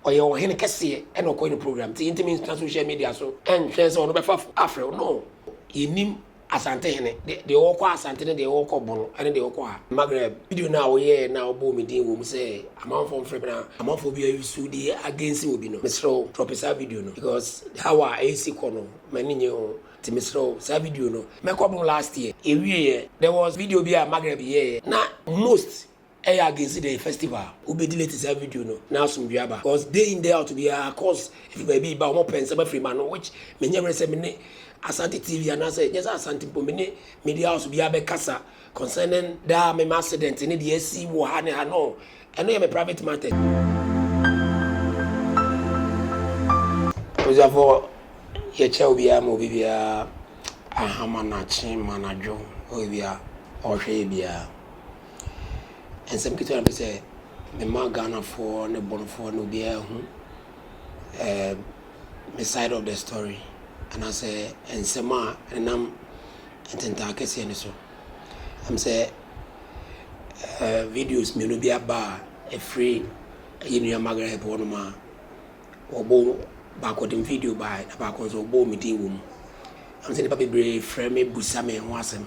Ɔyɛ ɔhen kɛseɛ ɛna ɔkɔyɛ no program nti yɛntumi ntena social media so ɛntwɛn sɛ ɔno bɛfa afrɛ wo no yɛnim Asante hene deɛ deɛ ɔɔkɔ Asante ne deɛ ɔɔkɔ Bono ɛne deɛ ɔɔkɔ ha. Margaret video no a woyɛɛ no a wobɔɔ me din wɔ mu sɛ amanfoɔ mfrɛ me na amanfoɔ bi ayusu de against obi no mesrɛ wo drop saa video no because how a ɛresi kɔ no m'ani nnye ho nti mesrɛ wo saa video no mɛkɔ Bono last year yɛwieɛ there was video bi a Margaret yɛɛeɛ na most Ɛyɛ a gesi dɛn festival a wobedi late saa video no na asomdwee aba cos day in day out biara calls fi baabi ba wɔn pɛ nsɛm afiri m'ano which menyɛ werɛ sɛ me ne Asante TV anaasɛ nyɛ sɛ Asante mpo me ne media house biara bɛkasa concerning daa me m'accident ne deɛ asi wɔ ha ne ha no ɛno yɛ me private matters. Abusuafoɔ yɛkyɛ obiara ma obibiara ahama nakye ma nadwo obibiara ɔhwɛ yɛ biara. Nsɛm ketewa na mepɛ sɛ mema Ghanafoɔ ne Borɔfoɔ ne obiara hu ɛɛm me side of the story anaasɛ nsɛm a ɛnam ntentaa kɛseɛ no so. Ɛm sɛ ɛɛ videos mmienu bi aba a ɛfiri yɛn nua Margaret hɔnom a. wɔbow baako de video bae na baako nso wɔbɔɔ me din wom. Ɛwom sɛ nnipa bebree frɛ me bisa me ho asɛm,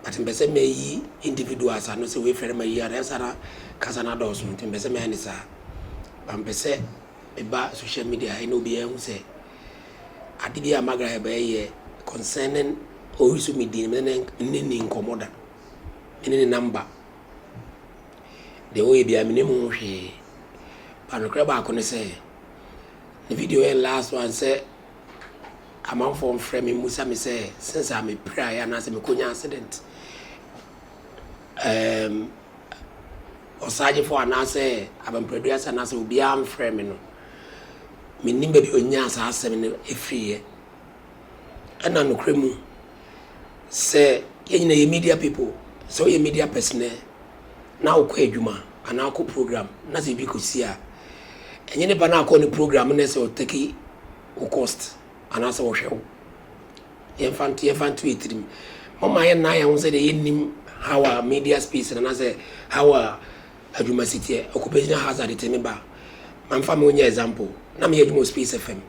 but mepɛ sɛ meyi individuals ano sɛ wei frɛ no mayi ano, ayɛ saa na kasa no adɔɔso nti mepɛ sɛ mɛyɛ no saa. But mepɛ sɛ meba social media ha yi na obiara hu sɛ ade bi a Margaret Herbert yɛ concerning ɔresu me din, me ne no nni nkɔmmɔ da, me ne ne number. Deɛ ɔyɛ biara menim ho hwee but nokorɛ baako ne sɛ ne video yɛ last one sɛ amanfoɔ mfrɛ me mmusa me sɛ since a mepiraeɛ anaasɛ mekɔnya accident um, ɔsagyefoɔ anaasɛ abampradu ase anaasɛ obiara mfrɛ me no menim baabi ɔnyaa saa asɛm no ɛfiriiɛ Ɛna nokorɛ mu sɛ yɛn nyinaa yɛ media people, sɛ woyɛ media person ɛ, na wokɔ adwuma anaa wokɔ program na sɛ biribi kɔsi a, ɛnyɛ nipa no a akɔ ne program no na ɛsɛ sɛ ɔtake wo cost anaasɛ ɔhwɛ wo. Yɛmfa nto yɛmfa nto yɛn tirim. Momma yɛnna yɛn ho sɛ deɛ yɛnnim how a media space no anaasɛ how a Adwuma siteɛ, occupational hazard te me ba a, ma nfa me nyɛ example, na me yɛ adwuma wɔ Space FM.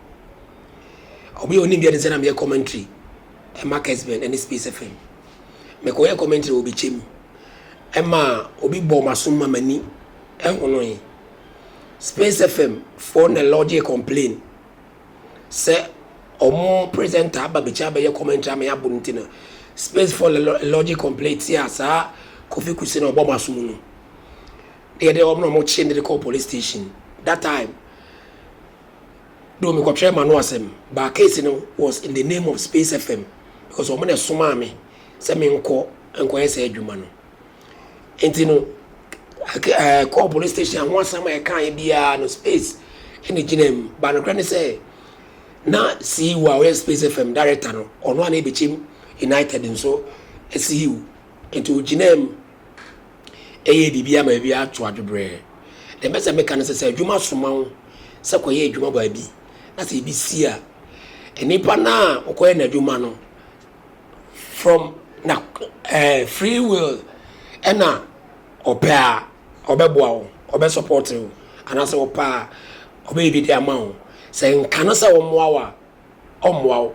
Obi a onim bi anisɛ na me yɛ commentary ɛma Kesben ɛne Space FM. Me kɔ yɛ commentary wɔ Bekyɛ mu ɛma obi bɔɔ m'asom ma m'ani ɛhonoe. Space FM foɔ na lodge complain sɛ ɔmo presenter aba bɛkyi abɛyɛ commentary ama yɛabo no nti no space for the logic complaint ti a saa Kofi Kuse na ɔbɔ mo aso mu no deɛ deɛ ɔmo na ɔmo kye no de kɔɔ police station that time do me kɔtwerɛ ma no asɛm but case no was in the name of Space FM because ɔmo na ɛsomaa me sɛ me nkɔ nkɔyɛ saa adwuma no. Nti no, ɛkɔɔ police station a ho asɛm a ɛkaeɛ biara no Space na ɛgyinaa mu. But nokorɛ ne sɛ, na CEO a ɔyɛ Space FM director no, ɔno a na ɛbɛkyem United nso CEO. Nti ɔgyinaa mu yɛɛ biribiara ma biribiara too adwobrɛɛ. Deɛ mɛpɛ sɛ meka ne sɛ, sɛ adwuma soma wo sɛ kɔyɛ adwuma baabi na sɛ ɛbi si a, nnipa no a wokɔyɛ no adwuma no, from na eh, free will ɛna ɔpɛ a ɔbɛboa wo ɔbɛ support wo anaasɛ ɔpɛ a ɔbɛyɛ bi de ama wo sɛ nka no sɛ ɔmmoa wo a ɔmmoa wo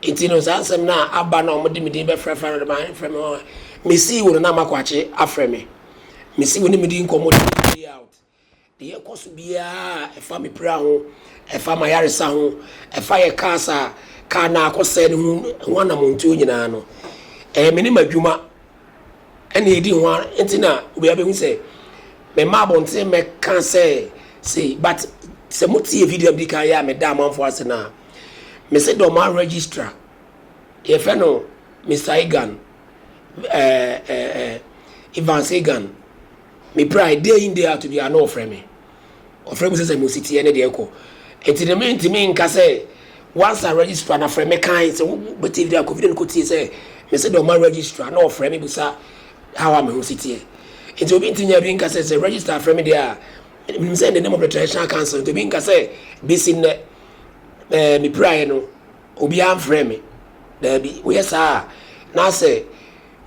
nti no saa nsɛm no a aba na ɔmode me din bɛfrɛfrɛ no de mafrɛ me mesii wo no na makɔakye afrɛ me mesi wo ne medi nkɔmmɔ day out Deɛ ɛkɔ so biara a ɛfa me pira ho, ɛfa m'ayaresa ho, ɛfa yɛn cars a car no akɔsɛe no ho anammɔntuo nyinaa no, ɛyɛ me ne m'adwuma na ɛdi ho ara nti na obiara bɛhu sɛ memma abɔnten mmɛka sɛ sei. But sɛ motie video a medi kan yɛ a meda amanfoɔ ase no a, mese Dormaa Registrar, yɛfrɛ no Mister Egan, ɛɛ ɛɛ Evans Egan, Meprae, day in day out biara na ɔfrɛ me. Ɔfrɛ bisa sɛ mo si teɛ ne deɛ ɛkɔ. Nti no mentumi nka sɛ once a registrar no afrɛ me kan sɛ wobɛtie video a kɔ video no kɔtie sɛ mese dɛ ɔma registrar na ɔfrɛ me bisa how a me ho si teɛ. Nti obi nti nya bi nka sɛ sɛ registrar frɛ me deɛ a menim sɛ in the name of the traditional council nti obi nka sɛ bɛsi nnɛ eh, mepiraeɛ no obiara mfrɛ me. Daabi, woyɛ saa a na sɛ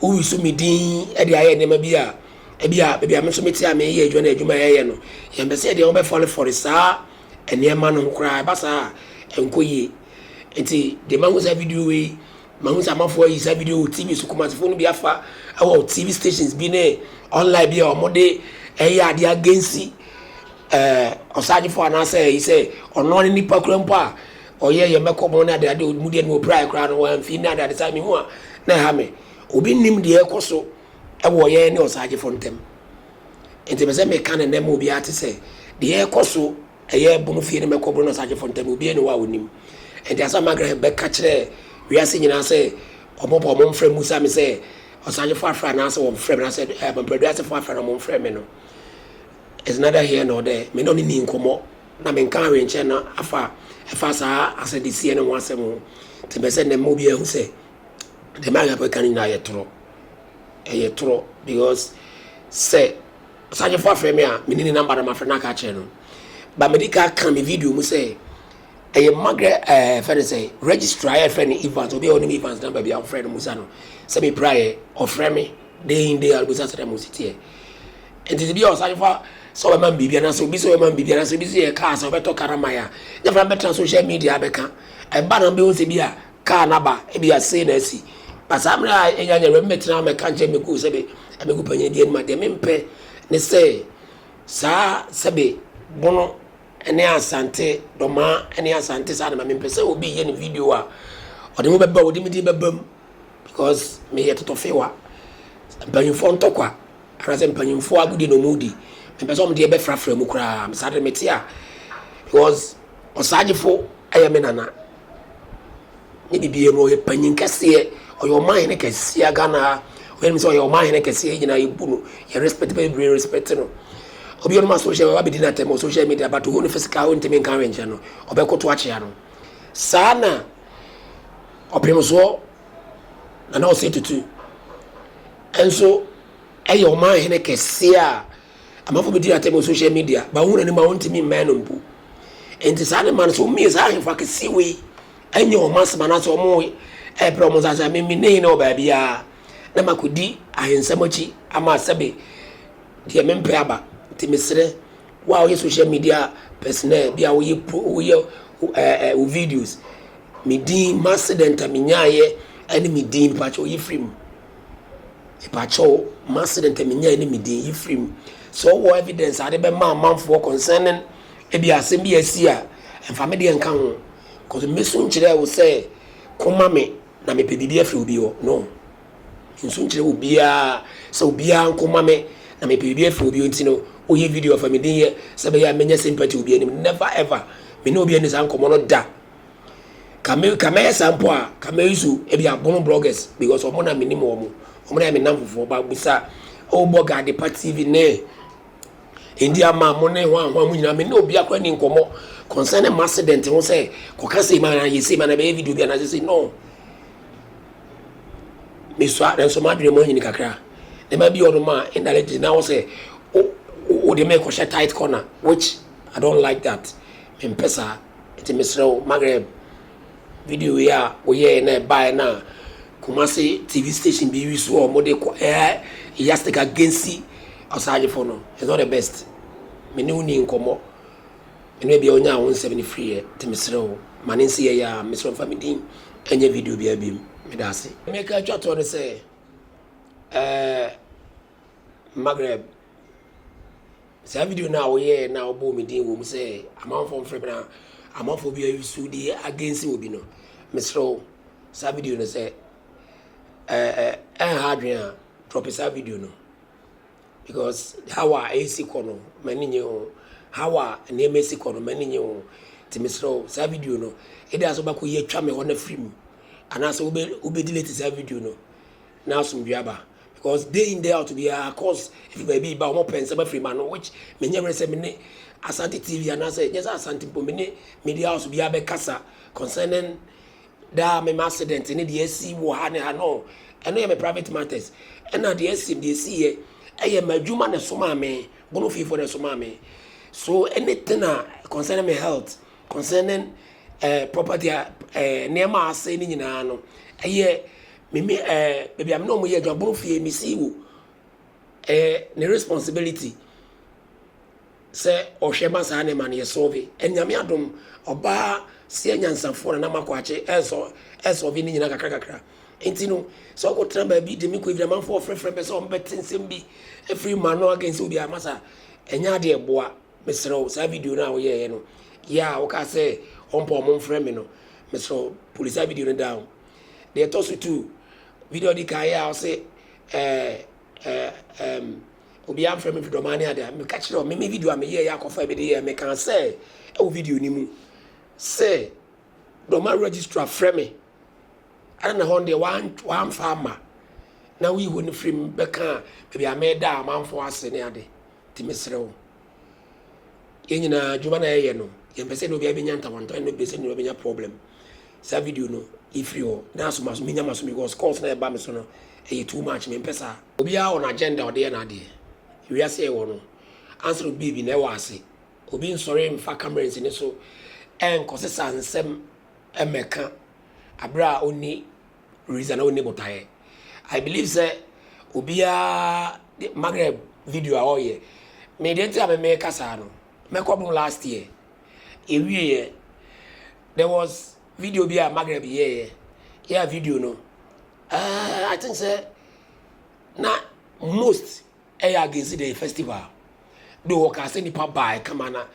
Woyi so me din de ayɛ nneɛma bi a ebia baabi a me nso mete a mereyɛ adwuma no adwuma a ɛreyɛ no, yɛmpɛ sɛ yɛde yɛn ho bɛfɔrefɔre saa nneɛma no ho koraa. Ɛba saa a, ɛnkɔ yie. Nti, deɛ mahu saa video wei, mahu sɛ amanfoɔ ayi saa video wɔ TV so, Kumasefoɔ no bi afa wɔ TV stations bi ne online bi a wɔde reyɛ adeɛ agensi ɛɛ ɔsaagyefo anaasɛ ayi sɛ ɔno ara ne nipa koraa mpo a Ɔyɛ yɛn mmɛkɔmɔ ne adeade a mu deɛ no ɔpiraeɛ koraa no wamfii nna adeade saa mehu a na ɛha me. Obi nnim deɛ ɛrekɔ so wɔ yɛn ne Ɔsaagyefo ntam. Enti mepɛ sɛ meka no nnɛ ma obiara ate sɛ deɛ ɛrekɔ so ɛyɛ Bono fie ne Mmɛkɔmɔ ne Ɔsaagyefo ntam no obiara nni hɔ a ɔnnim. Enti Asamoah Graham bɛka kyerɛ wiase nyinaa sɛ wɔn pɛ wɔn mfrɛ mmisa me sɛ Ɔsaagyefo afrɛ anaasɛ wɔmfrɛ me anaasɛ Amanprɛduasefo afrɛ na wɔmfrɛ me no is neither here nor there. Me ne ɔno nnii nkɔmmɔ Na menkaa hwee nkyerɛ no afa a ɛfa saa asɛdɛsiɛ no ho asɛm ho, nti ɛpɛ sɛ nnɛ ma obiara hu sɛ deɛ Mike Apo ɛka no nyinaa yɛ torɔ. Ɛyɛ torɔ because sɛ ɔsahwɛfoɔ afrɛ me a, meni ne number na mafrɛ no aka akyerɛ no. Ba medi ka ka me video mu sɛ ɛyɛ magrɛ ɛɛ eh, fɛ no sɛ registrar a yɛfrɛ no Evans, obi a ɔnim Evans number bi a ɔfrɛ no Musa no sɛ mepiraeɛ, ɔfrɛ me day in day out bisa sɛ dɛ mo si teɛ. Enti sɛ bi a ɔsan fa sɛ ɔbɛma no biribi anaasɛ obi sɛ ɔbɛma no biribi anaasɛ obi sɛ yɛ kaa sɛ ɔbɛtɔ kaa no ama yɛ a, nyɛ fana bɛtena social media abɛka. Ɛba na wobɛhu sɛ bi a kaa no aba, ebi a sei na asi. Ba saa mmerɛ a ɛnya nyɛ wura mɛtena amɛka nkyerɛ mɛku sɛbe amɛku panin bi anim a, deɛ mempɛ ne sɛ saa sɛbe Bono ne Asante, Dɔmaa ne Asante saa na ma mempɛ sɛ obi yɛ ne video a ɔde mo bɛba, ɔde me din bɛba mu because meyɛ totɔfewa, mpanyinfoɔ ntɔkwa. Anasɛ mpanyimfoɔ agodie na wɔredi? Mempɛ sɛ wɔde yɛ bɛfrafra mu koraa. Saa deɛ mete a, because Osagyefo yɛ me nana. Ne biribiara mu, ɔyɛ panyin kɛseɛ. Ɔyɛ ɔmanhene kɛseɛ a Ghana ha. Obiara nim sɛ ɔyɛ ɔmanhene kɛseɛ. Yɛn nyinaa yɛbu no, yɛ respect bebree respect no. Obi a ɔnom asɔhyɛ wɔ abɛdi n'atɛm wɔ social media but ohu no physical wontumi nka hwee nkyerɛ no, ɔbɛkoto akyea no. Saa na ɔpemsoɔ Nana Osei Tutu nso yɛ ɔman hene kɛseɛ a amanfoɔ bɛdi no atɛm wɔ social media, ba wohunu anim a wontumi mmɛn no mpo. Nti saa ne ma no, sɛ wɔmie saa ahemfo akɛseɛ wei nyɛ wɔn asɛm anaasɛ wɔrebrɛ wɔn nsa ase a, me me ne hene wɔ baabiara na makɔdi ahensɛm akyi ama sɛbe deɛ mempɛ aba. Nti mesrɛ wo a woyɛ social media personnel bi a woyɛ pro woyɛ ɛɛ eh, wo videos, me din, m'accident a menyaeɛ ne me din, pakyɛ woyi firi mu. Epakyɛw, m'accident a minyae ne me din, yi firi mu. Sɛ ɔwɔ evidence a ade bɛma amanfoɔ concerning ebi asɛm bi a asi a, mfa me deɛ nka ho. Cause mɛsu nkyerɛ wo sɛ ko ma me na mepɛ biribi afiri obi hɔ. No. Mensu nkyerɛ obiara sɛ obiara nko ma me na mepɛ biribi afiri obi hɔ nti no woyi video fa me din yɛ sɛ ɛbɛyɛ a mɛnya sympathy obi anim. Never ever. Me ne obi anni saa nkɔmmɔ no da. ka me ka mɛyɛ saa mpo a ka mɛyi so ebi abono bloggers because wɔn na menim wɔn wɔn na yɛ me nam fofoɔ ba busa ɛwɔ bɔ gadepa tv ne ndi ama mo ne ho ahoa mo nyinaa me ne obi akora ni nkɔmɔ concerning mo accident ho sɛ kɔka sɛ ma yɛ sɛ ma na bɛyɛ video bi anaasɛ sɛ no mesua nanso madwene mu anyini kakra nneɛma bi ɔno ma indirectly na wo sɛ wode me kɔhyɛ tight corner which i don't like that mempɛ saa Enti mesrɛ wo Maghreb, video wei a woyɛɛ na ɛbaeɛ no a Kumasi TV station bi use wɔ wɔn de kɔ ɛyɛ yastic agensi ɔsagyefo no is not the best me ne wo ni nkɔmmɔ me ne bia ɔnya wo nsɛm no firiɛ nti mesrɛ wo ma ne nsi yɛyɛ a mesrɛ mfa me din ɛnyɛ video bia bim meda ase meka atwa toɔ no sɛ ɛɛ Maghreb. Saa video no a woyɛɛ na wobɔɔ me din wom sɛ amanfoɔ mfrɛ me na amanfoɔ bi ayusu di against obi no, mesrɛ wo saa video no sɛ ɛnha adwene a drop saa video no because how a ɛsi kɔ no m'ani nye ho how a nneɛma ɛsi kɔ no m'ani nye ho nti mesrɛ wo saa video no ɛde asɛ wobɛkɔ yɛ atwa me hɔ no afiri mu anaasɛ wobɛdilete saa video no na asomdwe aba because day in day out biara calls firi baabi reba a wɔn pɛ nsɛm afiri m'ano which me nyɛ were sɛ me ne Asante TV anaa sɛ nyɛ sɛ Asante mpo me ne media house biara bɛ kasa concerning daa me ma accident ne deɛ asi wɔ ha ne ha no ɛno yɛ me private matters ɛna deɛ asi deɛ asi yɛ ɛyɛ m'adwuma na ɛso maa me bono fie fo na ɛso maa me so anything a concerning me health concerning eh, property a eh, nneɛma a asɛe ne nyinaa no ɛyɛ. me me eh baabi a me ne wɔn yɛ adwuma bom fie me see wo ɛyɛ ne responsibility sɛ ɔhwɛ ma saa nneɛma no yɛ sɔɔve ɛnyame adom ɔbaa seɛ nyansafoɔ na na makɔ akye ɛsɔ ɛsɔɔve ne nyinaa kakra kakra nti no sɛ ɔkɔ tena baabi de me kɔ ebi amanfoɔ ɔfrɛfrɛ bɛ sɛ wɔn bɛte nsɛm bi efiri ma no against obi a masa ɛnyɛ adeɛ ɛboa mesrɛ wo saa video no a woyɛɛ no yɛ a wokaa sɛ ɔmpɔ ɔmo mfrɛ me no mesrɛ wo polisi a video no down Deɛ ɛtɔ so two, video a ɔdi kan yɛ a ɔse ɛɛ ɛm obiara mfrɛ me dodɔmaa ne ade a, meka kyerɛ wɔn me me video a meyɛɛ yɛ akɔfa bi de yɛɛ mekaa sɛ ɛwɔ video no mu sɛ dɔmaa registrar frɛ me ɛna na hɔn deɛ wan wanfa ama na woyi hɔn firi mu bɛka baabi a meda a amanfoɔ ase ne ade nti mesrɛ wo. Yɛn nyinaa adwuma na yɛyɛ no, yɛmpɛ sɛ ne obiara bɛnya ntawantwa ne obiara sɛ ne bɛnya problem. Saa video no yɛfiri hɔ na asomaso menya maso because calls na ɛba me so no ɛyɛ too much mempɛ saa. Obiara wɔ n'agenda ɔde yɛ n'adeɛ. Wiase yɛwɔ no answer obi baabi na ɛwɔ ase. Obi nsɔre mfa camera nsi ne so ɛnkɔsesa nsɛm mmɛka aberɛ a ɔnni Reason na ɔnni botaeɛ. I believe sɛ obiara de Maghreb video a ɔreyɛ. Me deɛ nti a me meka saa no, mɛkɔ bom last year. Yɛwieɛ, there was video bi a Maghreb yɛeɛ. Yɛ a video no, uh, I think sɛ na most ɛyɛ against the festival. De wɔkaa sɛ nnipa baa ɛkama na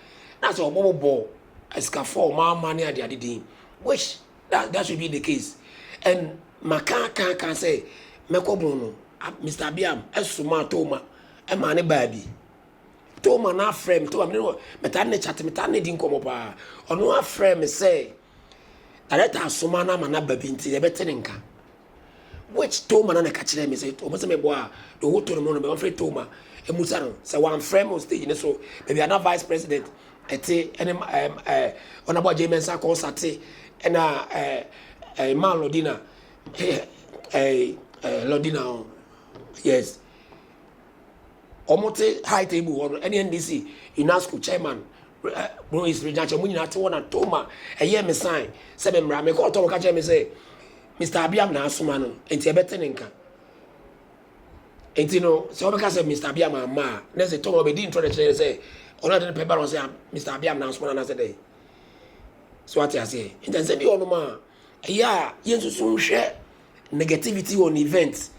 na sɛ ɔbɔbɔbɔ asikafoɔ a ɔmaama ne adeade din which That that should be the case and maka aka aka sɛ mɛkɔ bon no Mr Abiam ɛsomaa Toma ɛmaa ne baa bi Toma no afrɛ me Toma me ne no metaa ne chat metaa ne di nkɔmɔ paa ɔno afrɛ me sɛ director asoma no ama no aba bi nti yɛbɛte ne nka Which Toma na na ɛka kyerɛɛ me sɛ ɔpɛ sɛ mebɔ a doho to no mu no mɛma frɛ Toma mmusa no sɛ wamfrɛ me wɔ stage no so baabi a na Vice President te ne Honourable Agyei Mensah Kɔɔsa te ɛna Mmaa Lordina Lordina yes Ɔmo te high table hɔ no ɛne NDC UNASCO chairman Moise Regnache ɔmo nyinaa te hɔ na Toma ɛyɛɛ me sign sɛ me mmra. Me kɔɔ Toma ɔka kyerɛɛ me sɛ Mister Abiam na asoma no nti ɛbɛte ne nka. Nti no sɛ ɔbɛka sɛ Mister Abiam amma a na ɛsɛ Toma ɔbɛdi ntorɔ na ɛkyerɛ sɛ ɔno na ɛde ne pɛ ba no sɛ Mister Abiam na asoma no anaasɛ dɛn. So wate aseɛ? Nti ɛnsɛ bi wɔ hɔ nom a Ɛyɛ a yɛnsusu nhwɛ negativity on event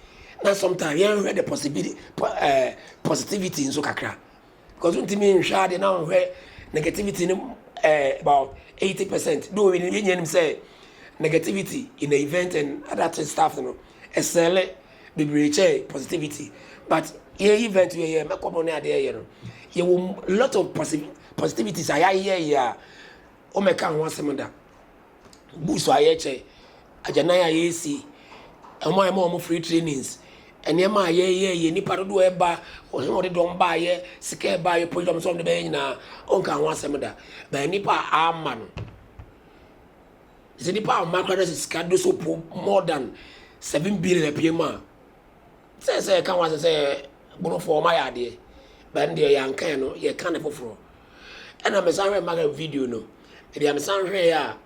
na sometimes yɛnhwɛ the possibility po ɛɛ eh, positivity nso kakra because ntumi nhwɛ adeɛ na nhwɛ negativity no ɛɛ eh, about eighty percent do yɛn yɛn nim sɛ negativity in the event and other things stuff no ɛsɛlɛ bebree kyɛ positivity but yɛ event yɛ yɛ mɛkɔ mo ne adeɛ yɛ no yɛ wɔ lot of positivities a yɛayɛ yɛ a wɔmɛka ho asɛm da. Books a yɛkyɛ, agyanan a yɛsi, wɔn a yɛma wɔn free trainings, nneɛma a yɛyɛ, yɛ nipa dodoɔ a ɛba, wɔn a wɔde dɔm baayɛ, sika a ɛbaayɛ, program sɛ wɔn de bɛyɛ nyinaa, ɔnka ho asɛm da. Bɛn nipa a ama no. Sɛ nipa a ama koraa na sɛ sika do so po more than seven billion apue mu a. Sɛ sɛ yɛka ho asɛ sɛ Borɔfo wɔma yɛ adeɛ but ɛno deɛ yɛanka ɛno yɛka ne foforɔ ɛna mesan hwɛ Maga video no ɛdeɛ mesan hwɛɛ a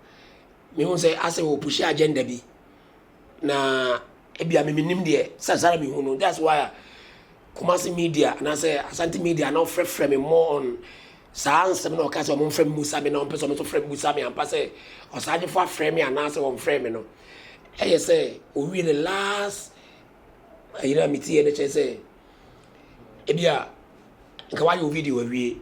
mehu sɛ asɛ wɔ pushi agenda bi na ebia me menim deɛ sɛ sara mehu no that's why Kumasi media anaasɛ Asante media na ɔfrɛfrɛ me more on saa nsɛm na ɔka sɛ ɔmo mfrɛ me musa me na ɔmpɛ sɛ ɔmo nso frɛ me musa me ampa sɛ ɔsagyefo afrɛ me anaasɛ ɔmfrɛ me no ɛyɛ sɛ owie ne last Ayera a mitiiɛ no kyerɛ sɛ ebia nka wayɛ wo video awie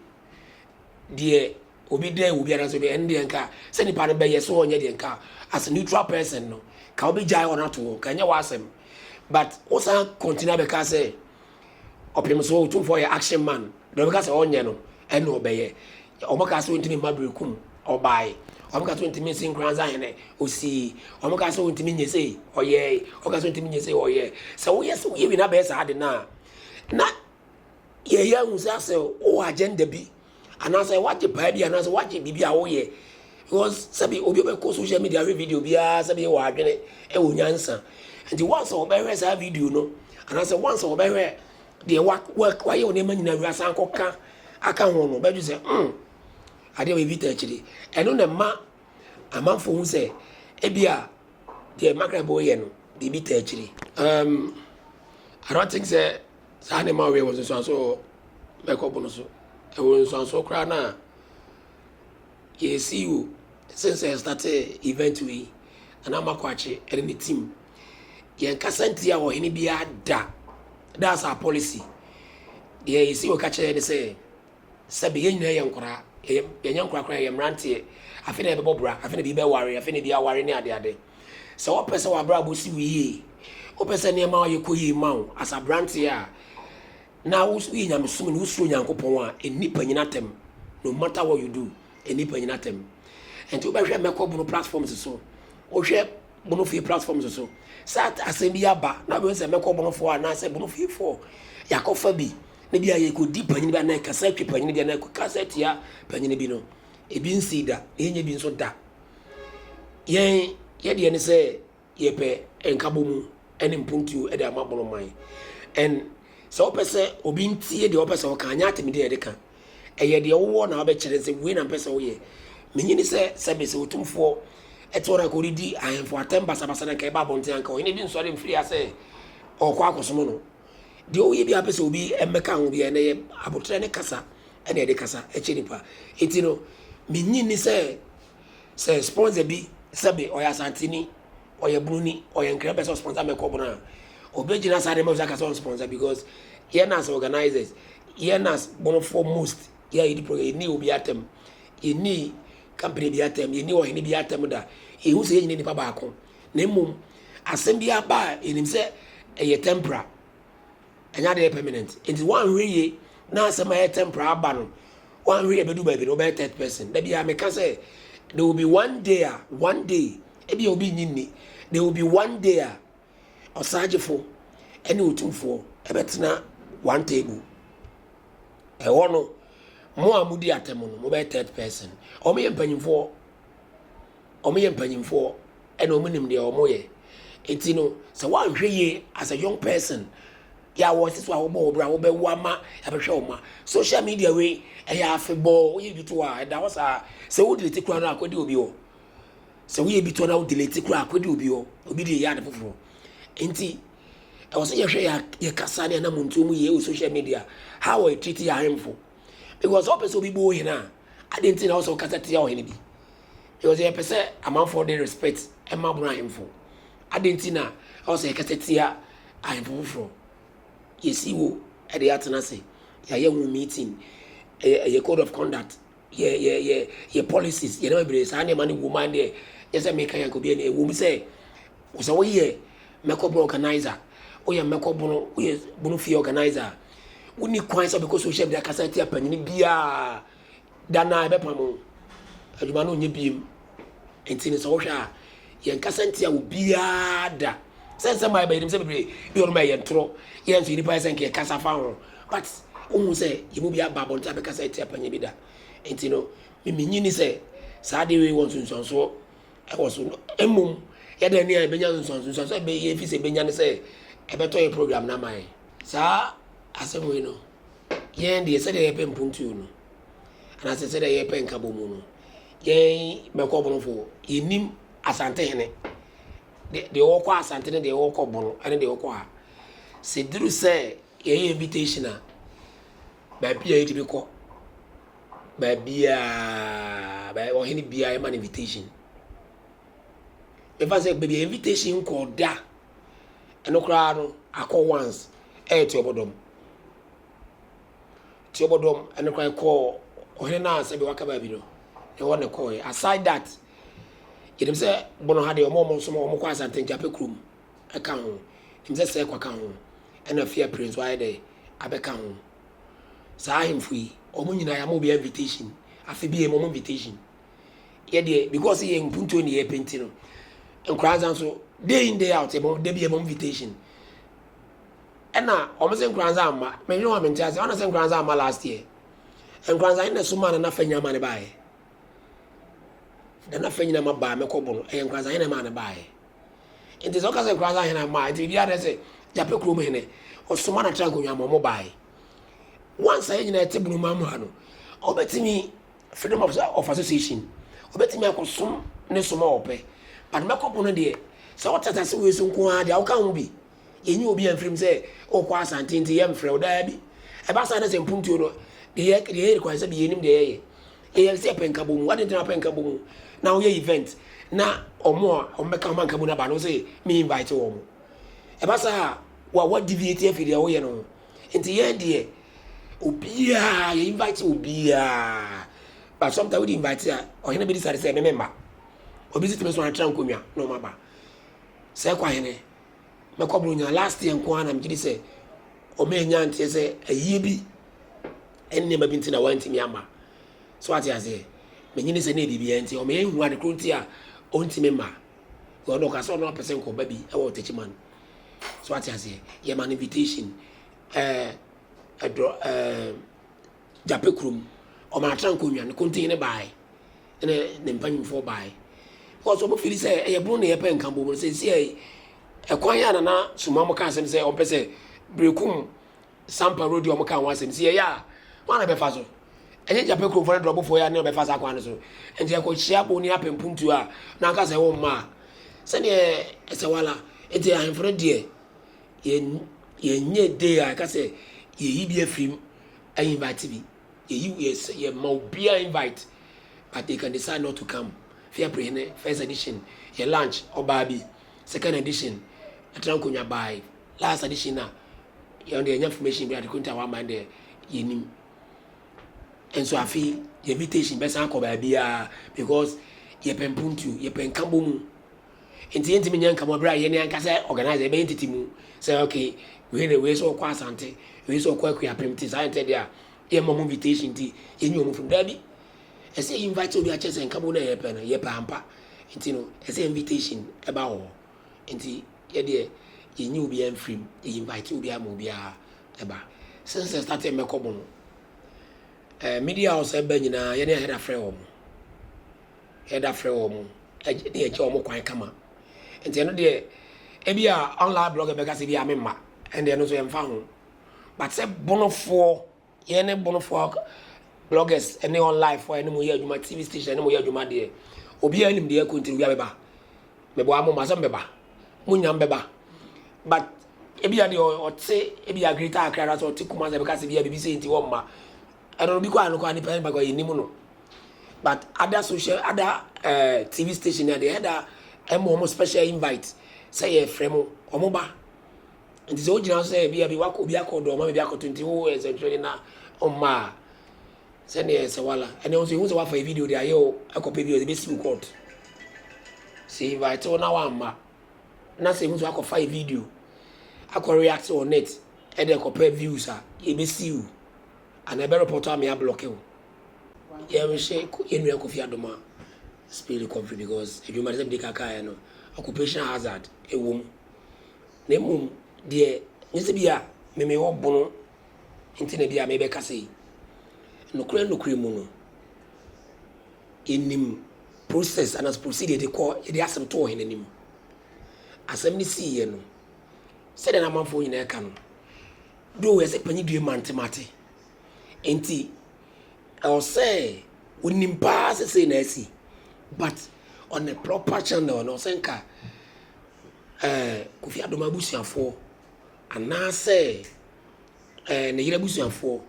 deɛ obi dɛ obi anaasɛ obi ɛno deɛ nka sɛ nipa no bɛyɛ so ɔnyɛ deɛ nka as a neutral person no ka obi gyae hɔ no ato hɔ ka ɛnyɛ w'asɛm but wosan continue abɛka sɛ Ɔpem so otumfoɔ yɛ action man deɛ ɔbɛka sɛ ɔnyɛ no ɛna ɔbɛyɛ ɔmo kaa sɛ ɔntumi mma bere kum ɔbae ɔmo kaa sɛ ɔntumi nsi nkoransa hene ɔsii ɔmo kaa sɛ ɔntumi nyɛ sei ɔyɛe ɔmo kaa sɛ ɔntumi nyɛ sei ɔyɛ sɛ woyɛ sɛ woyɛ bi na bɛyɛ saa de no a na yɛyɛ ahu sɛ asɛ wowɔ agenda bi Anaasɛ wagye paa bi anaasɛ wagye biribi a woyɛ because sɛbi obi bɛkɔ social media ahwɛ video biara sɛbi wɔ adwene ɛwɔ nyansa nti once ɔbɛhwɛ saa video no anaasɛ once ɔbɛhwɛ deɛ wa wa wayɛ wɔn nneɛma nyinaa wia san kɔ ka aka ho no bɛdwe sɛ mm adeɛ wɔ ebi ta akyire ɛno na ɛma amanfo ho sɛ ebi a deɛ makrabo yɛ no biribi ta akyire um, I don't think sɛ saa na ɛma ɔyɛ wɔn nso so mɛkɔbo no so. Ɛwɔ nsuansoɔ koraa no a yɛresii o, since yɛ startee event wei, Nana Amakwaakye ɛne ne team. Yɛn kasa ntia ɔhene biara da. That's our policy. Deɛ yɛsi wɔ ka kyerɛ ne sɛ, sɛbi yɛn nyinaa yɛ nkoraa, yɛnyɛ nkoraa koraa yɛ mmeranteɛ. Afei na yɛbɛbɔ bra, afei na bi bɛware, afei na bi aware ne adeade. Sɛ wɔpɛ sɛ wɔabrabɔ si wo yie, wopɛ sɛ nneɛma yɛ kɔ yie ma wo as aberanteɛ a, Na wo so yɛ nyamesom ni, wo suro Nyankopɔn a, nnipa nyina atɛm, no matter what you do, nnipa nyina atɛm. Nti wo bɛ hwɛ mɛkɔ bono platforms so, wo hwɛ bono fie platforms so, sɛ asɛm bi aba na wo bɛ hu sɛ mɛkɔ bono foɔ anaa sɛ bono fie foɔ, yakɔ fa bi, na bi a yɛ kɔ di panyini bi anaa yɛ kasa twi panyini bi anaa yɛ kɔ kasa tia panyini bi no, ebi nsii da, na yɛ nyɛ bi nso da. Yɛn, yɛ deɛ ne sɛ. Yɛpɛ nkabɔmu ne mpuntuo de ama bono man. And sɛ wopɛ sɛ obi ntie deɛ wopɛ sɛ woka, nyɛ atemmudeɛ na ɛde ka. Ɛyɛ deɛ wowɔ na wobɛkyerɛ sɛ wei na mpɛ sɛ woyɛ. Menye ne sɛ, sɛ mese Otumfoɔ te hɔ na anka ɔredi ahemfo atɛm basabasa na anka ɛba abɔnten anka ɔhene bi nsɔre mfiri ha sɛ ɔrekɔ akɔsom no. Deɛ woyɛ biara pɛ sɛ obi mmɛka ho biara, ɛnnɛ yɛ aboterɛ ne kasa na ɛde kasa kyɛ nnipa. Enti no, menye ne sɛ. Sɛ sponsor bi sɛbe ɔyɛ Asanteni, ɔyɛ Broni, ɔyɛ Nkran pɛ sɛ ɔsponsor me kɔ Brona a, obegyina saa nneɛma so aka sɛ ɔnsponsor because yɛn as organisers, yɛn as Bonofoɔ most, yɛn a yɛdi program, yɛnni obi atam, yɛnni company bi atam, yɛnni ɔhene bi atam da. Yɛhu sɛ yɛn nyinaa nipa baako. Na mmom, asɛm bi aba a yɛnim sɛ ɛyɛ temporal. Ɛnyɛ ade a ɛyɛ permanent. Enti woanhwɛ yie na asɛm a ɛyɛ temporal aba no, woanhwɛ yie ɛbɛdu baabi no wobɛyɛ third person. Da biara meka sɛ, there will be one day a, one day, ebia obi nnye nni, there will be one day a Ɔsagyefo ne Otumfoɔ bɛtena one table. Ɛhɔ no, mo a modi atɛm no, mobɛyɛ third person. Wɔyɛ mpanyimfoɔ. wɔyɛ mpanyimfoɔ na wɔnim deɛ wɔyɛ. Nti no, sɛ woanhwɛ yie as a young person, yɛ a wɔte so a wɔbɔ wo bra, wobɛwo ama yɛabɛhwɛ wo mma. Social media wei, ɛyɛ afebɔɔ, woyɛ bi to a, ɛda hɔ saa. Sɛ wo delete koraa no a, kɔdi obi hɔ. Sɛ woyɛ bi to na wo delete koraa a, kɔdi obi hɔ. Obi deɛ yɛ ade foforɔ. Nti, ɛwɔ sɛ yɛhwɛ yɛ, yɛ kasa ne anamontuo mu yie wɔ social media, how wɔyɛ treat yɛ ahemfo. Because sɛ wopɛ sɛ obi bɔ wo hene a, adɛn nti na wɔ sɛ wokasa tia ɔhene bi? Because yɛ pɛ sɛ amanfoɔ de respect ma bono ahemfo. Adɛn nti na ɛwɔ sɛ yɛ kasa tia ahemfo foforɔ? Yɛ si wo de yɛ atena ase, yɛ ayɛ ho meeting, yɛ yɛ code of conduct, yɛ yɛ yɛ yɛ policies, yɛ nneɛma bebree. Saa nneɛma no wɔ mu a deɛ yɛ sɛ meka yɛ nka obiara ni. Ɛwɔ mu sɛ wo sɛ wo yɛ mɛkɔ bono organizer, wo yɛ mɛkɔ bono, wo yɛ bono fie organizer a, wo ni kwan sɛ wobɛkɔ social media akasa atia panyin biara. Da no a yɛbɛpam wo adwuma no nyɛ biem. Nti no sɛ wohwɛ a, yɛn kasa ntia wo biara da. Sɛ nsɛm a ɛba yɛnim sɛ bebree bi wɔnom ɛyɛ ntorɔ, yɛn nso yɛn nipa yɛ sɛ nka yɛkasa fa ho. But wohu sɛ yɛn mu bi aba abɔnten abɛkasa atia panyin bi da. Nti no me minnye ni sɛ saa adeɛ wei wɔ nsunsuansoɔ ɛwɔ so. Mmom yɛdɛn ne a yɛbɛnya nsunsuansoɔ? Nsunsuansoɔ a yɛbɛnya ne sɛ ɛbɛtɔ yɛn program no ama yɛn. Saa asɛm wei no Yɛn deɛ, sɛdeɛ yɛpɛ mpuntuo no, anaasɛ sɛdeɛ yɛpɛ nkabɔmu no, yɛn bɛkɔ bonofoɔ. Yɛnim Asantehene, deɛ ɔkɔ Asante ne deɛ ɔkɔ bono ne deɛ ɔkɔ ha. Sɛ duru sɛ yɛyɛ invitation a, baabi a yɛtumi kɔ, baabiara, ɔhene biara yɛma no invitation. Mefa sɛ baabi a invitation nkɔɔ da Ɛno koraa no akɔ once ɛyɛ tiɔbɔdɔm tiɔbɔdɔm ɛno koraa ɛkɔɔ ɔhene no a sɛbi waka baabi no ɛhɔ ne kɔɔɛ aside that yɛnim sɛ bono ha deɛ ɔmo ɔmo nso ɔmo kɔ asante nkyapɛ kurom ɛka ho nim sɛ sɛ ɛkɔ ka ho ɛna fi apire nso ayɛ dɛ abɛka ho saa ahemfo yi ɔmo nyinaa yɛ ama obi invitation afe bi yɛ ɔmo invitation Yɛ deɛ because yɛ mpuntuo ne yɛ pɛ nti no, nkwadaa nsa nso day in day out yɛbɔ da bi yɛbɔ invitation. Ɛna wɔn sɛ nkwadaa nsa ama mɛnwene wɔn mente ase wɔn sɛ nkwadaa nsa ama last year. Nkwadaa nsa na soma na nafa nyina ma ne baayɛ. Na nafa nyina ma baa mɛkɔ bɔ no ɛyɛ nkwadaa nsa hene ma ne baayɛ. Nti sɛ ɔka sɛ nkwadaa nsa hene ama nti obi ara sɛ gyapɛ kurom hene ɔsoma na tra nkonnwa ma wɔn baayɛ. Wɔn nsa yɛ nyina ɛte bono ma mu ha no ɔbɛtumi. Freedom of of association obetumi akɔsom ne som a ɔpɛ but mɛkɔbo no deɛ sɛ wote asase wei so nko ara deɛ woka ho bi yɛnyi obi amfirim sɛ wokɔ asante nti yɛmfrɛ wo daabi ɛba saa na sɛ mpuntuo no deɛ yɛ deɛ yɛ require sɛ bi yɛnim deɛ yɛyɛ yɛyɛ sɛ yɛpɛ nkabɔ mu wade nti na wapɛ nkabɔ mu na woyɛ event na ɔmo a ɔmo bɛka ɔmo nkabɔ no aba no sɛ me invite wɔn ɛba saa a wa wa deviate afiri deɛ woyɛ no ho Nti yɛn deɛ obiara yɛ invite obiara but sometimes wodi invite a ɔhene bɛdi sare sɛ ɛmɛ mɛmba obi si tumi so antra nkonnwa na ɔma ba sɛ ɛkɔ ahene mɛkɔ buronya last year nko ara na megye di sɛ ɔma anya nteɛ sɛ ayie bi nneɛma bi nti na wantumi ama so ate aseɛ menyini sɛ ne biribiara nti ɔma yɛhu ade koro nti a ɔntumi mma ɔno ɔka sɛ ɔno apɛ sɛ nkɔba bi ɛwɔ ɔtakyiman So wate aseɛ? Yɛma no invitation. Ɛɛ ɛdorɔ ɛɛ gyapɛ kurom. Ɔmaa tra nkonnwa no kontin no baae. Ɛna ne mpanyinfoɔ baae. Because wɔn fili sɛ ɛyɛ bono na yɛpɛ nka bom no sɛ ɛsi ɛkwan yɛ a nana suma mo ka asɛm sɛ ɔmpɛ sɛ berekum Sampa Road yi a wɔkaa ho asɛm, sɛ yɛyɛ a, hwan na ɛbɛfa so? Ɛnyɛ Gyapɛ kuromfoɔ ne Drɔbofoɔ yi ara na wɔbɛfa saa kwan no so? Enti yɛkɔhyia Boni Apɛ Mpuntuo a na ɔka sɛ womma a, sɛdeɛ ɛsɛ wala. Enti ahemfo no deɛ, yɛn yɛnyɛ day a yɛka sɛ yɛyi bi afiri mu invite bi. Yɛyi, yɛsɛ, yɛma obiara invite but they can decide not to come. Fiapre Hene, first edition, yɛ lunch, ɔbaa bi, second edition, ɛtra nkonnwa baae. last edition na yɛn deɛ yɛnya information bi a dekunta wa man deɛ yɛnim nso afi yɛ invitation bɛsan akɔ baabiara because yɛpɛ mpuntuo yɛpɛ nkabɔ mu nti yɛntumi nyɛ nkabɔ berɛ a yɛne ankasa organize yɛbɛyɛ ntete mu sɛ okay wei na wei sɛ ɔkɔ asante wei sɛ ɔkɔ akuapem nti saa ntɛ deɛ a yɛmmɔ mu invitation nti yɛnyɛ ɔmu funu daabi ɛsɛ invite obi akyɛ sɛ nkabɔ no a yɛpɛ no yɛpɛ ampa nti no ɛsɛ invitation ɛba wɔ hɔ Nti yɛ deɛ yɛnyi obiara mfiri mu, yɛ invite obiara ma obiara ba. Since yɛ starte mmɛkɔ mo no, eh, media house a ɛba nyinaa yɛne Ahead afrɛ wɔn. Ahead afrɛ wɔn, ɛgye, ne yɛgye wɔn kwan kama. Nti ɛno deɛ, ebi a online blogger bɛka sɛ ebi a memma, ɛnde ɛno nso yɛmfa ho. But sɛ bonofoɔ Yɛne Bonofoɔ ak bloggers ne online foɔ a yɛne mo yɛ adwuma, TV station yɛne mo yɛ adwuma deɛ, obiara nim deɛ ɛkɔ ntiri obiara bɛba. Meboa mo ma sɛ mobɛba. Mo nyinaa mobɛba. But ebia deɛ ɔte ebia Greater Accra anaasɛ ɔte Kumasi bɛka sɛ bia biribi sei nti wɔmma. Ɛno no bi koraa no koraa nipa nipa koraa yɛnim no. But other social other uh, TV station na deɛ ɛda ɛma wɔn special invite sɛ yɛfrɛ mo wɔn ba. Enti sɛ wogyina sɛ ebia bi wakɔ obi akɔ dɔn ma biribi akɔto nti wo nsɛntwerɛnne no ɔmma a, sɛdeɛ ɛsɛ wala. Ɛnna nso ehu sɛ wafa yɛ video de ayɛ o, akɔpɛ bi ɔde bɛsi wo court. Sɛ invite wo na wamma, na sɛ ehu sɛ wakɔfa yɛ video akɔ react on it ɛde kɔpɛ views a, yɛbɛsi wo anaa ɛbɛ report ama yɛablɔke wo. Yɛnhwɛ yɛn nua Kofi Adoma spill kɔmfiri because adwuma no sɛ mede kakaeɛ no, occupational hazard ɛwɔ mu. Na mmom deɛ, nyɛ sɛ ebia me mewɔ bono nti na ebia merebɛka sei. Nokorɛ nokorɛ mu no, yɛnim process anaasɛ procedure yɛde kɔ, yɛde asɛm to ɔhene anim. Asɛm no siiɛ no, sɛdeɛ na amanfoɔ nyinaa ɛka no, though yɛsɛ panyin due mantemate, nti ɛwɔ sɛ wonim paa sɛ sei na asi, but on a proper channel no, ɛwɔ sɛ nka, ɛɛ Kofi Adom abusuafoɔ anaasɛ ɛɛ ne yere abusuafoɔ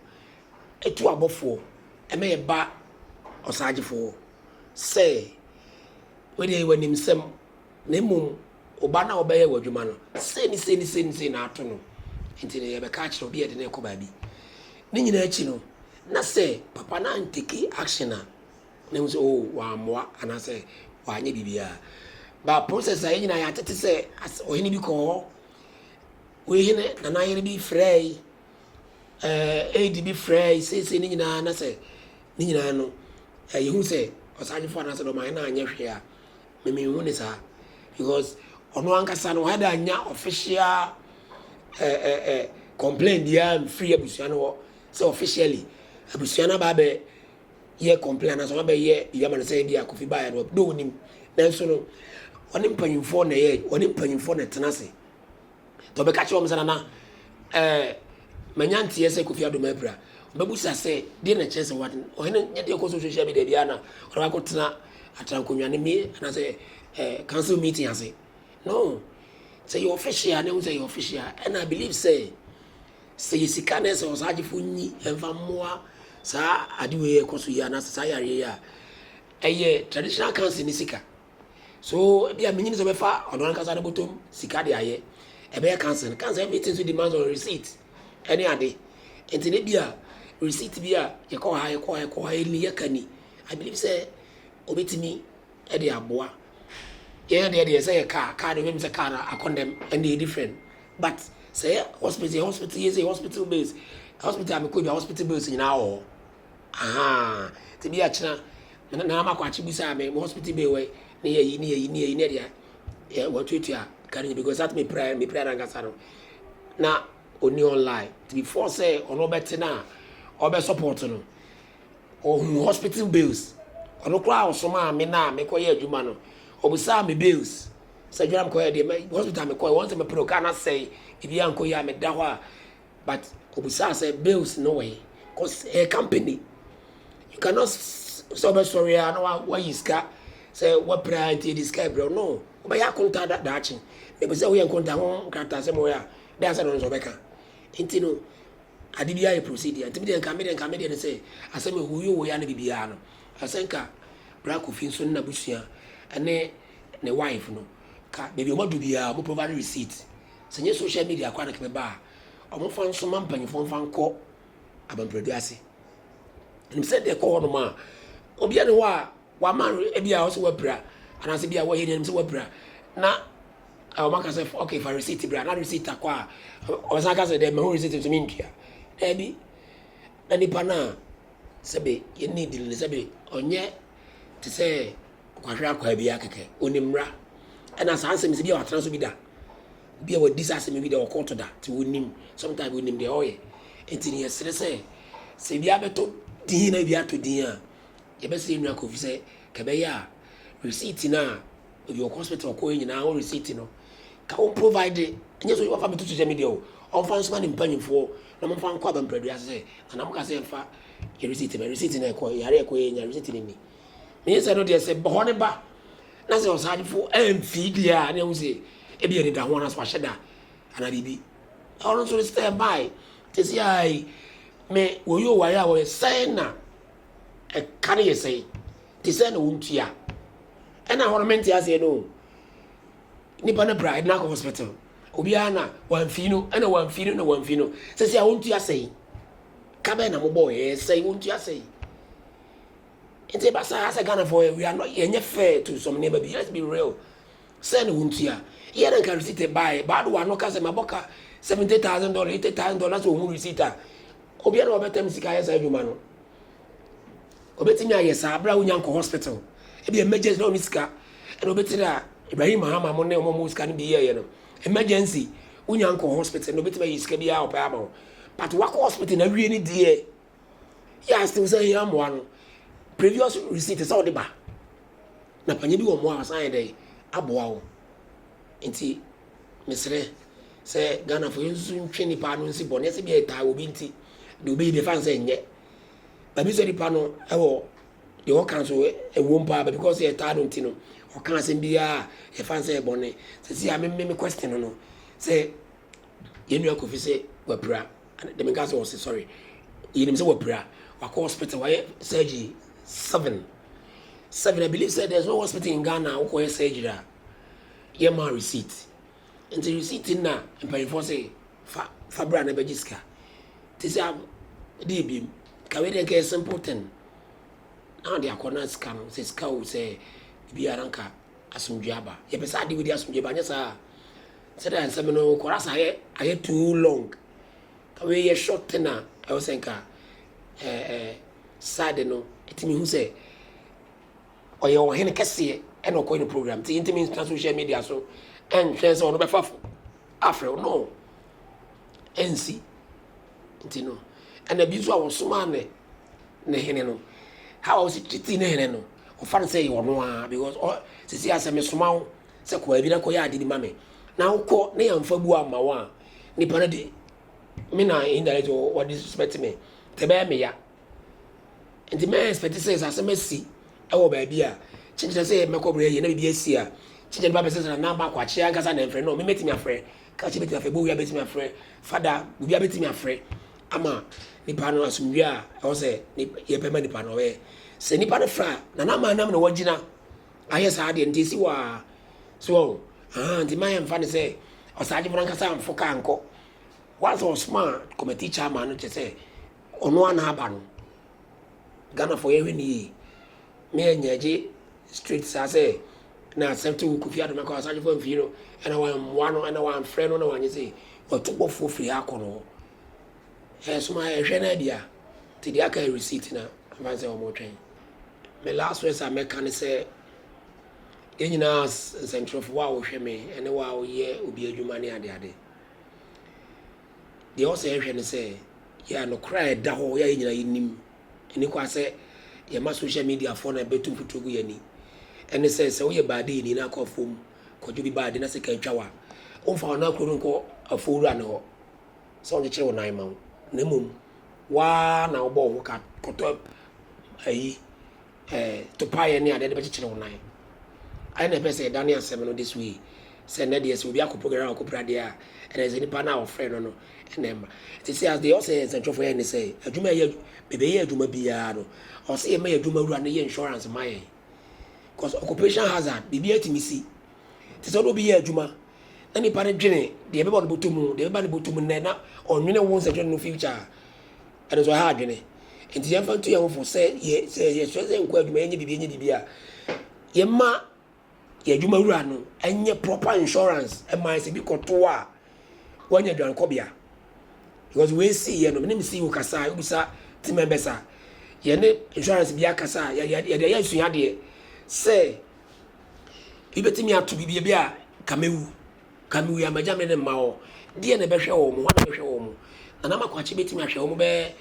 atu abɔfoɔ ma ɛba ɔsaagyefoɔ sɛ wodeɛ yɛ w'anim sɛm na mmom wo ba no a wobɛyɛ wɔ adwuma no sei ne sei ne sei ne sei na ato no nti no yɛbɛka akyerɛ obi yɛde no ɛkɔ baabi ne nyinaa akyi no na sɛ papa no anteki action a na ehu sɛ oh wammoa anaasɛ wanyɛ biribiara but process a yɛn nyinaa yɛatete sɛ as ɔhene bi kɔɔ hɔ wei hene nana yere bi frɛe ɛɛ aid bi frɛe seesei ne nyinaa na sɛ ne nyinaa no ɛɛ yɛhu sɛ ɔsagyefo anaasɛ dɔm ahene anyɛ hwee a memenhu ne saa because ɔno ankasa no ɔhɛda anya official ɛɛ ɛɛ ɛɛ complain biara mfiri abusua no hɔ sɛ officially abusua no aba abɛ yɛ complain anaasɛ ɔma bɛyɛ biribi ama no sɛ ebi a Kofi baeɛ no dɛ ɔnim nanso no ɔne mpanyinfoɔ na ɛyɛ ɔne mpanyinfoɔ na ɛtena ase tɔ bɛka kyerɛ wɔn sɛ nana ɛɛ manya nteɛ sɛ Kofi Adoma apira ɔbɛbusa sɛ deɛ na kyerɛ sɛ wɔn ɔhene nyɛ deɛ ɛkɔ so social media biara na ɔde wakɔ tena atena nkonnwa ne mi anaasɛ ɛɛ council meeting ase no sɛ yɛ official ne ho sɛ yɛ official ɛna I believe sɛ. Sɛ yɛ sika na ɛsɛ ɔsagyefo nyi ɛmfa mmoa saa ade wei a ɛkɔ so yi anaasɛ saa yareɛ yi a, ɛyɛ traditional council no sika. So ebia menyi ne sɛ ɔbɛfa ɔno ankasa ne bɔtɔm sika de ayɛ. Ɛbɛyɛ council no. Council everything so demands on receipt ɛne ade. Nti no ebia receipt bi a yɛkɔ ha yɛkɔ ha yɛkɔ ha yɛni yɛka ni. I believe sɛ ɔbɛtumi de aboa. Yɛn deɛ deɛ sɛ yɛ car, car deɛ wobɛnim sɛ car no akɔndɛm ɛnna ɛyɛ different. But sɛ yɛ hospital yɛ hospital yɛ sɛ yɛ hospital bills hospital a mekɔ bia hospital bills nyinaa wɔ hɔ ahaa te bi akyena na na makɔ akye bi saa me hospital bill wɔ ne yɛ yi ne yɛ yi ne yɛ yi ne deɛ yɛ wɔtuatua kari because that me prayer me prayer nankasa no na oni online te before sɛ ɔno ɔbɛte na ɔbɛ support no. Ohun hospital bills. Ɔno koraa a ɔsomaa me no a mekɔ yɛ adwuma no, obisaa me bills. Sɛ adwuma na mekɔ yɛ deɛ, me hospital mekɔ yɛ, wɔn sɛ mepere car no asɛe, biribiara nkɔ yie a meda hɔ a, but obisaa sɛ bills no wɔ he? Cause ɛyɛ company. You cannot sɛ ɔbɛsɔre ara na wayi sika sɛ wapira ara nti yɛde sika rebrɛ wo. No, wobɛyɛ akonta da daakye. Na ɛpɛ sɛ woyɛ nkonta ho nkratasɛm wɔ yɛ a, dɛn asɛm na ɔno nso ɔbɛka? Nti no, Ade biara yɛ procedure nti me deɛ nka me deɛ nka me deɛ ne sɛ asɛm yɛ hoyoo hoyaa ne bibiaa no ɛsɛ nka bra Kofi nso ne nabusua ɛne ne wife no ka baabi ɔmo adu biaa ɔmo provide receipt sɛ nyɛ social media koraa na ka bɛba a ɔmo fa nso ma mpanyinfoɔ nfa nkɔ Abampradu ase nim sɛ deɛ ɛkɔ hɔ nom a obiaa ne hɔ a Wama no ebi a ɔsɛ wapira anaasɛ ebi a wɔyɛ nea nim sɛ wapira na wɔn aka sɛ okay fa receipt bra na receipt akɔ a ɔsan aka sɛ dɛ mɛho receipt nso mi ntua daabi na nipa no a sɛbe yɛ need no sɛbe ɔnyɛ te sɛ kwahwɛ akwaa bi a kɛkɛ onim mmra ɛna saa nsɛm sɛ bi a watena so bi da bi a wadi saa asɛm bi da ɔkɔɔto da te onim sometimes onim deɛ ɔyɛ nti ne yɛsrɛ sɛ sɛ bi abɛtɔ din na bi ato din a Yɛbɛsrɛ Nua Kofi sɛ ka ɛbɛyɛ a receipt no a ɔde wɔ hospital kɔɛ nyinaa wo receipt no ka wo provide nyɛ sɛ wafa bɛto social media o ɔmfa nsoma ne mpanyimfoɔ na ɔmfa nkɔ aba mprɛdua ase sɛ nana mo ka sɛ yɛmfa yɛ receipt ma receipt no ɛkɔ yare ɛkɔ yɛ nya receipt no ni menyɛ sɛ no deɛ sɛ bɔhɔ ne ba na sɛ ɔsaadefo ɛmfii deɛ a ne ɛho sɛ ebi yɛ ne da ho anaasɛ wahyɛ da anaa biribi ɔno nso ne stand by te sɛ ai me wɔyɛ o wayɛ a wɔyɛ sɛn na Ɛka no yɛ sɛn? Te sɛ na wontua. Ɛna hɔ no mente aseɛ no o. Nipa no bra ɛde no akɔ hospital. Obiara na wamfi no ɛna wamfi no na wamfi no. Sɛ sɛ a wontua sɛn? Ka bɛn na mobɔ yɛ sɛn wontua sɛn? Nti ɛba saa asɛ Ghanafoɔ we are not yɛnyɛ fair to some nneɛma bi. Let's be real. Sɛ na wontua. Eyɛ na nka receipt bae. Ba do wano ka sɛ mabɔ ka seventy thousand dollars, eighty thousand dollars na sɛ ohu receipt a, obia na wabɛtam sika ayɛ saa adwuma no. Obetumi ayɛ saa bere a wonnya nkɔ hospital. Ebia emergency na onni sika na obetiri dɛ a Ibrahim Mahama mo ne wɔn a wɔwɔ sika no bi yɛeɛ no. Emergency, wonnya nkɔ hospital na obetumi ayi sika biara a ɔpɛ ama wo. But wakɔ hospital na awie ne deɛ yɛ a still sɛ hia mmoa no previous receipt sɛ wode ba na panyɛ bi wɔ mmoa a ɔsan yɛ dɛn aboa wo nti mesrɛ sɛ Ghanafoɔ yɛnsusu ntwe nipa no nsi bɔne sɛ bi a ɛtaa wɔ bi nti deɛ wobɛyi deɛ fa nsɛ nyɛ baabi sɛ nipa no ɛwɔ deɛ ɔka nso ɛwom paa baabi kɔ sɛ ɛtaa no nti no ɔka asɛm biara yɛfa nsɛ ɛbɔne sɛ si a meme me question no sɛ yɛnua kofi sɛ wapira Ɛna dɛm nka sɛ ɔse sorry yɛnim sɛ wapira wakɔ hospital wayɛ surgery seven seven I believe sɛ there is no hospital in Ghana a wokɔyɛ surgery a yɛ ma receipt nti receipt na mpanyinfoɔ se fa fa bra na bɛgye sika te sɛ de ebiem kawe deɛ nka yɛ simple thing na ɔde akɔ na sika no sɛ sika o sɛ biara nka asomdwe aba yɛpɛ sɛ ade wei de asomdwe ba nyɛ saa Sɛdeɛ nsɛm no kɔ ara saa ayɛ too long ka wei yɛ short ten a ɛwɔ sɛ nka eh, eh, side no ɛtumi hu sɛ ɔyɛ ɔhene kɛseɛ ɛna ɔkɔyɛ no program nti ntumi ntra social media so ɛnhwɛ sɛ ɔno bɛfa fo afrɛ wo no ɛnsi nti no ɛna bi nso a wɔsomaa ne ne hene no how a wɔsi titi ne hene no ɔfa no sɛ yɛ ɔno ara because ɔ sisi asɛm esoma wo sɛ kɔ baabi na kɔyɛ ade bi ma me na wokɔ na yɛamfa bu amma wo a, nipa no de me na indirect wɔ disrespect me nti ɛbɛyɛ me ya. Nti mɛ expect sɛ sɛ asɛm asi ɛwɔ baabi a kyekyerɛ sɛ mɛkɔ brɛ yɛ na biribi asi a kyekyerɛ nipa bɛsɛ sɛ na namba kwakye ankasa na ɛmfrɛ no me mɛtumi afrɛ kakye bɛtumi afrɛ bowia bɛtumi afrɛ fada bowia bɛtumi afrɛ ama nipa no asomdwe a ɛwɔ sɛ yɛpɛ ma nipa no ɔbɛyɛ sɛ nipa no fra na na ama nam na wagyina Ayɛ saa deɛ nti ɛsi hɔ aa so wahu ahaa nti mma yɛmfa no sɛ ɔsagyefo no ankasa amfo kaa nkɔ once ɔsoma committee chairman no kyɛ sɛ ɔno a na aba no Ghanafoɔ yɛhwɛ no yie me ɛnyɛ gye straight saa sɛ na accept wo Kofi Adoma kɔ ɔsagyefo amfii no ɛna wammoa no ɛna wamfrɛ no na wanyɛ sɛ watu bɔfoɔ firi ha kɔ no hɔ ɛsoma ɛhwɛ no adi a nti deɛ aka receipt na mfa sɛ wɔtwɛn Me last words a mɛka ne sɛ yɛn nyinaa as nsɛntwerɛfo, wo a wohwɛ me ne wo a woyɛ obi adwuma ne adeade. Deɛ ɔsɛ yɛhwɛ ne sɛ yɛ nokorɛ a ɛda hɔ yɛ a yɛn nyinaa yɛnim ɛni kɔ a sɛ yɛma social media foɔ na ɛbɛtu mfuturo gu yɛn ani ɛne sɛ sɛ woyɛ baade ni na akɔ afuom kɔgye obi baade na sika atwa wo a womfa wɔn akuro no nkɔ afuo wura no hɔ. sɛ ɔnkyekyere wo nan mma wo, na mmom wo ara na wobɔ wo ho ka kɔtɔ ayi ɛɛ topaeɛ ne adeɛ de bɛkyekyere wo nan. Ayɛ na ɛpɛ sɛ yɛdane asɛm no this way sɛ ɛnnɛ deɛ sɛ obi akɔpira na wakɔpira adeɛ a, ɛnna ɛsɛ nipa no a wɔfrɛɛ no no na ɛma. Nti sɛ as deɛ ɔsɛ yɛ nsɛntwerɛfoɔ yɛ ne sɛ adwuma yɛ bɛbɛyɛ adwuma biara no, ɔsɛ yɛma yɛn adwumawura no yɛ insurance ma yɛn. Cause occupation hazard, biribiara tumi si, Te sɛ na obi yɛ adwuma na nipa no dwene deɛ ɛbɛba no bɔtɔ mu, deɛ ɛbɛba no bɔtɔ mu nnɛ na ɔnwene wo nsɛnkyerɛnne no future a, ɛno nso ɛha adwene. Nti yɛmfa nto yɛn ho fo sɛ yɛ sɛ yɛsrɛ sɛ nkɔ adwuma yɛnyɛ biribi yɛnyɛ biribi a, yɛma yɛn adwuma wura no nyɛ proper insurance ɛma yɛ sɛ bi kɔto a wanya dwankɔbea. Because wei si yɛ no, mene me CEO kasa a, wobisa team members a, yɛne insurance bi akasa a, yɛde ayɛ asuadeɛ sɛ, Ibetumi ato biribi ebi a ka mewu, ka mewu a magya me ne mma hɔ. Deɛ na ɛbɛhwɛ wɔn, hwan na ɛbɛhwɛ wɔn? Nana Makoakye betumi ahwɛ wɔn bɛyɛ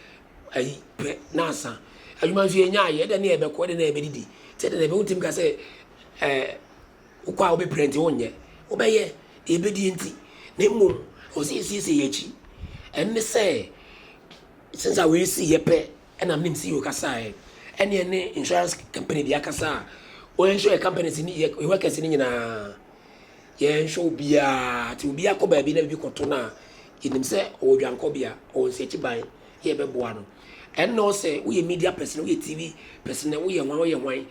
ayi pɛ nansa. Adwuma nso yɛnya ayɛ, ɛdɛ ne ɛbɛkɔ, ɛdɛ ne ɛbɛdidi. Sɛ ɛdɛ na ɛbɛ wontumi ka sɛ ɛɛ eh, wokɔ a wobɛpira nti wonyɛ. Wobɛyɛ deɛ ɛbɛdie nti. Na mmom ɛwɔ sɛ yɛsiesie yɛn akyi. Ɛno ne sɛ, since a wɔasi yɛ pɛ Ɛna me nim CEO kasa a ɛne ɛne insurance company bia kasa a wɔn insure yɛ companies ne yɛ workers ne nyinaa yɛn insure obiara ti obiara kɔ baabi na bibi kɔto na yɛnim sɛ ɔwɔ dwankɔ bia ɔwɔ nsiakyi ban yɛ bɛboa no ɛnna ɔsɛ woyɛ media person woyɛ TV person woyɛ hwan woyɛ hwan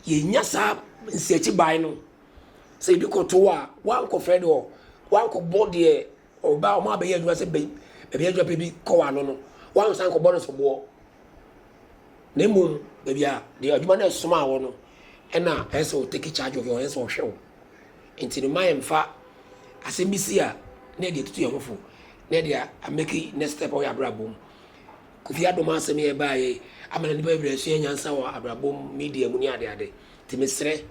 yɛnya saa nsiakyi ban no sɛ ebi kɔto a wankɔfrɛ deɛ wankɔbɔ deɛ Ɔbaa a wɔabɛyɛ adwuma sɛ baabi a agyapɛ bi kɔ ano no, wɔansan kɔbɔ no soboɔ, na mmom baabi a deɛ adwuma no ɛsomaa wɔ no, ɛna ɛsɛ sɛ ɔtake charge of you, ɛsɛ sɛ ɔhwɛ wo. Nti no, ma yɛmfa asɛm bi si a na yɛde atutu yɛn ho fo, na yɛde ameki next step wɔ yɛn abrabɔ mu. Kofi Adom asɛm yi a ɛbaeɛ yi ama na nnipa bebree asua nyansa wɔ abrabɔ mu, media mu ne adeade. Nti mesrɛ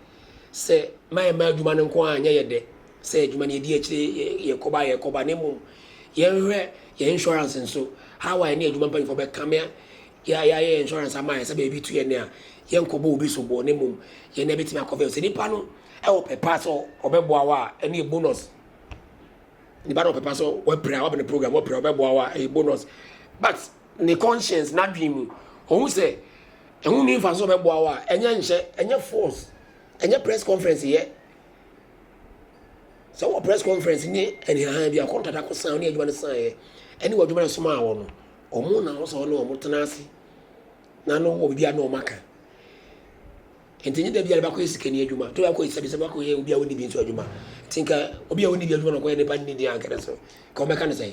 sɛ mma yɛmma adwuma no nko ara nyɛ yɛn dɛ, sɛ adwuma no yɛdi akyire, yɛkɔba a yɛkɔba, na mmom yɛnhwɛ yɛn insurance nso, how a yɛne adwuma mpanyimfoɔ bɛkame a yɛayɛ yɛn insurance ama yɛn sɛ baabi tu yɛn a, yɛnkɔbɔ obi soboɔ, na mmom yɛn na yɛbɛtumi akɔvɛ. Sɛ nipa no wɔ pɛ pa sɛ ɔbɛboa wo a, ɛno yɛ bonus. Nipa no wɔ pɛ pa sɛ wapira, waba ne program, wapira, ɔbɛboa wo a, ɛyɛ bonus. But ne conscience n'adwene mu ɔhu sɛ ɛho nni mfaso sɛ ɔbɛboa wo a ɛnyɛ nhyɛ ɛnyɛ force ɛnyɛ press conference yɛ sɛ wɔ press conference ne ɛnehahan bi akɔntada kɔ san ne adwuma no san yɛ ɛne wɔ adwuma no soma awɔ no ɔmo na ɔsɛ ɔne ɔmo tena ase na no wɔ biribi a na ɔmo aka nti nye dabi a bɛkɔ yɛ sikani adwuma to bɛkɔ yɛ sɛbi sɛ bɛkɔ yɛ obi a ɔni bi nso adwuma nti nka obi a ɔni bi adwuma na ɔkɔyɛ nipa nni deɛ anka ne so ka ɔbɛka ne sɛ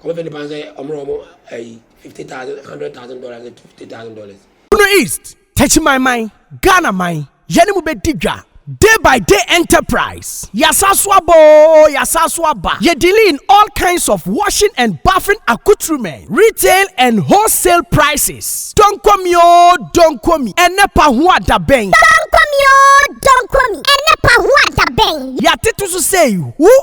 Wɔbɛfrɛ nnipa no sɛ wɔmmrɛ wɔn ayi fifty thousand, hundred thousand dollars ne two fifty thousand dollars. Bono East, Techimanman, Ghana man, yɛne mo bɛdi dwa. Day by day enterprise, yɛasan so aba oo, yɛasan so aba. Yɛ dealing in all kinds of washing and bathing accoutrement, retail and wholesale prices. Donkomi oo, Donkomi, ɛnɛ pahoa da bɛn? Donkomi oo, Donkomi, ɛnɛ pahoa da bɛn? Yɛatete so sei, who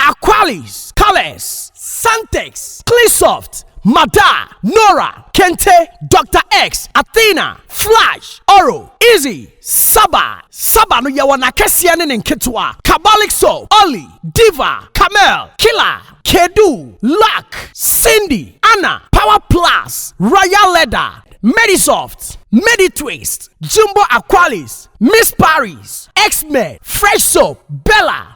Aqualis, Calex, Santex, Cleansoft, Mada, Nora, Kente, Doctor X, Athena, Flash, Oro, Easy, Saba, Saba no yɛwɔ n'akɛseɛ ne ne nketewa, Kabalik Soap, Olly, Diva, Camel, Killer, Kedu, Luck, Cindy, Anna, Power Plus, Royal Leather, Medisoft, Meditwist, Jumbo Aqualis, Miss Paris, X-Men, Fresh Soap, Bella,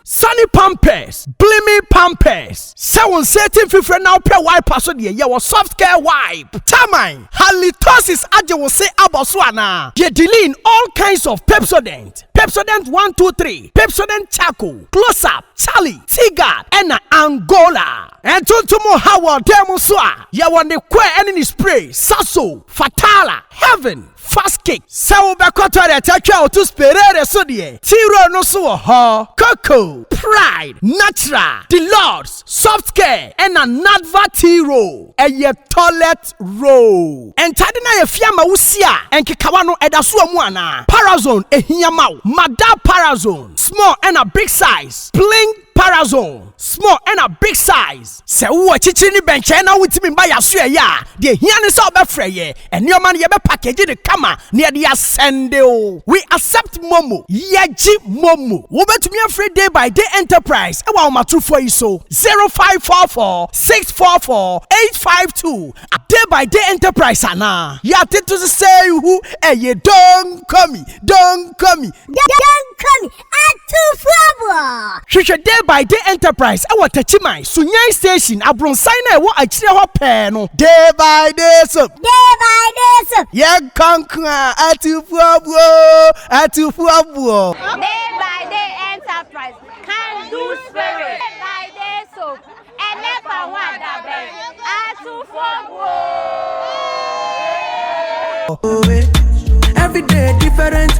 Sunny Pampers, Gleaming Pampers, Sɛ wo nsa ati mfifire na wopɛ wiper so deɛ, yɛwɔ Soft Care Wipe, Taman, Halitosis agye wo se abɔ so anaa? Deɛ Diline, All kinds of Pepsodent, Pepsodent One Two Three, Pepsodent Charcoal, Close Up, Charly, Teaguard ɛna Angola. Ntontom nhaw wɔ dan mu nso a, yɛwɔ ne coir ɛne ne spray, Saso, Fatala, Heaven. Fast kick, Sɛ wobɛkɔ toilet atwa wo to sperere so deɛ, T-Roll no nso wɔ hɔ. Koko, Pride, Natural, The Lords, Soft Care, ɛna Nadva T-Roll. Ɛyɛ toilet roll. Ntade no ayɛ fi ama wo si a, nkekawa no, ɛda so wɔ mu anaa? Parazone, Ɛhia ma wo. Madar Parazone, Small ɛna Big Size, Bling. Parazone, small ɛna big size. Sɛ wowɔ akyirikyiri ne bɛnkyɛn na wontumi mma yɛn asoɛeɛ a, deɛ ɛhia ne sɛ wobɛfrɛ yɛn. Nneɛma no, yɛbɛpakegye no kama na yɛde asɛnde wo. We accept Momo. Yɛgye Momo. Wobɛtumi afrɛ Day by Day Enterprise wɔ ahomatorofoɔ yi so, 0544 644 852. Day by Day Enterprise anaa? Yɛatete so sɛ ihu, ɛyɛ Don't call me, don't call me. Don't call me. Atufoɔ! Hwehwɛ Day by Day Enterprise wɔ Takyiman, Sunyani Station, abronsan no a ɛwɔ akyire hɔ pɛɛ no. Day by Day Soap. Day by Day Soap. Yɛnkɔ nko a, Atufoɔbuo! Atufoɔbuo! Day by Day Enterprise, Can Do Spirit. Day by Day Soap, Ɛnɛ fa ho adabɛn, Atufoɔbuo! Every day different.